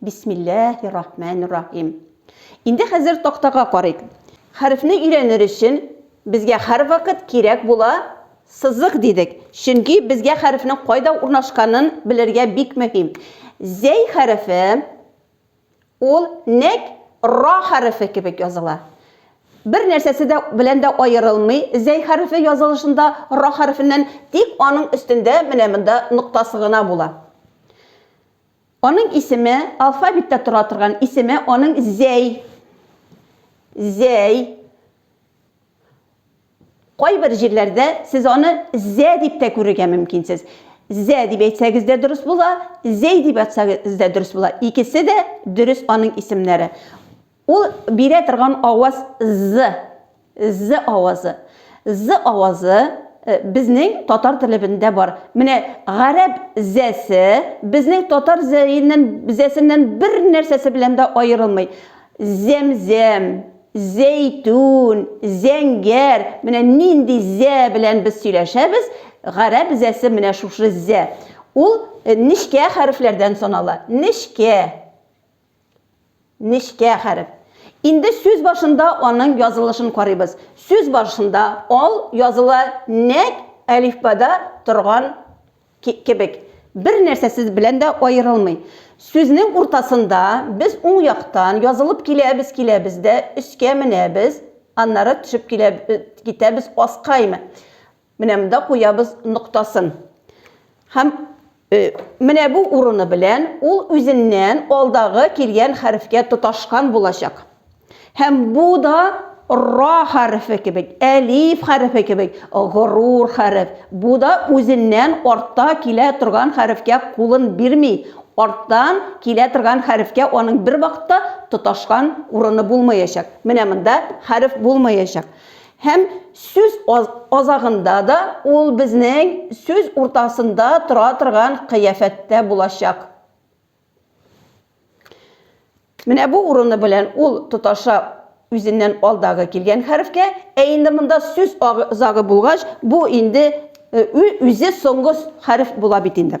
Бисмиллаһи-рахмәни-рахим. Инде хәзер тактага карыйк. Хәрефне өйрәнер өчен безгә һәрвакыт кирәк була сызык дидек, чөнки безгә хәрефнең кайда урнашканын белергә бик мөһим. Зәй хәрефе, ул нәкъ ра хәрефе кебек языла. Бер нәрсәсе дә белән дә аерылмый зәй хәрефе язылышында ра хәрефеннән, тик аның өстендә менә монда ноктасы гына була. Аның исеме, алфавитта тора торган исеме аның Зәй. Зәй. Кайбер җирләрдә сез аны Зә дип тә күрергә мөмкинсез. Зә дип әйтсәгез дә дөрес була, Зәй дип әйтсәгез дә дөрес була. Икесе дә дөрес аның исемнәре. Ул бирә торган аваз з, з авазы. З авазы безнең татар телебендә бар. Менә гарәп зәсе безнең татар зәеннән, зәсеннән бер нәрсәсе белән дә аерылмый. Зәмзәм, зәйтүн, зәңгәр, менә нинди зә белән без сөйләшәбез, гарәп зәсе менә шушы зә. Ул нечкә хәрефләрдән санала. Нечкә. Нечкә хәреф. Инде сүз башында аның язылышын карыйбыз. Сүз башында ал языла нәкъ әлифбада торган кебек. Бер нәрсәсез белән дә аерылмый. Сүзнең уртасында без уң яктан язылып киләбез киләбез дә өскә менәбез, аннары төшеп китәбез аскаймы. Менә монда куябыз ноктасын. Һәм э, менә бу урыны белән ул үзеннән алдагы килгән хәрефкә тоташкан булачак. Һәм бу да ра хәрефе кебек, әлиф хәрефе кебек, горур хәреф. Бу да үзеннән артта килә торган хәрефкә кулын бирми. Арттан килә торган хәрефкә аның бер вакытта тоташкан урыны булмаячак. Менә монда хәреф булмаячак. Һәм сүз азагында да ул безнең сүз уртасында тора торган кыяфәттә булачак. Менә бу урыны белән ул тоташа үзеннән алдагы килгән хәрефкә, ә инде монда сүз азагы булгач, бу инде үзе соңгы хәреф була бит инде.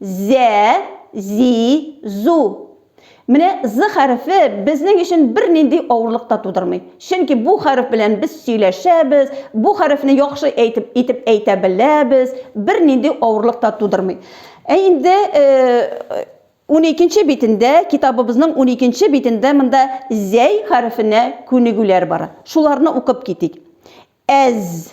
Зә, зи, зу. Менә з хәрефе безнең өчен бернинди авырлык та тудырмый. Чөнки бу хәреф белән без сөйләшәбез, бу хәрефне яхшы әйтеп итеп әйтә беләбез, бернинди авырлык та тудырмый. Ә инде уникенче битендә, китабыбызның уникенче битендә монда зәй хәрефенә күнегүләр бар. Шуларны укып китик. Әз,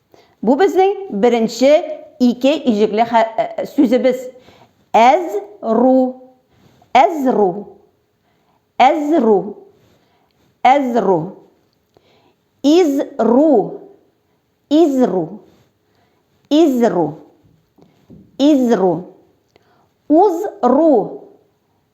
Бу безнең беренче ике иҗекле хә- э, сүзебез. Әз-ру, әз-ру, әз-ру, әз-ру. Из-ру, из-ру, из-ру, из-ру. Уз-ру,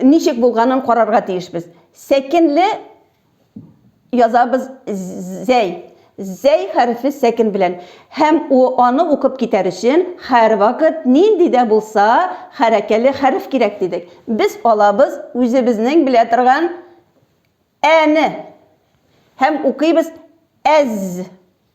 Ничек булганын карарга тиешбез. Сәкенле язабыз зәй. Зәй хәрефе сәкен белән. Һәм аны укып китәр өчен һәрвакыт нинди дә булса хәрәкәле хәреф кирәк дидек. Без алабыз үзебезнең белә торган әне һәм укыйбыз әз.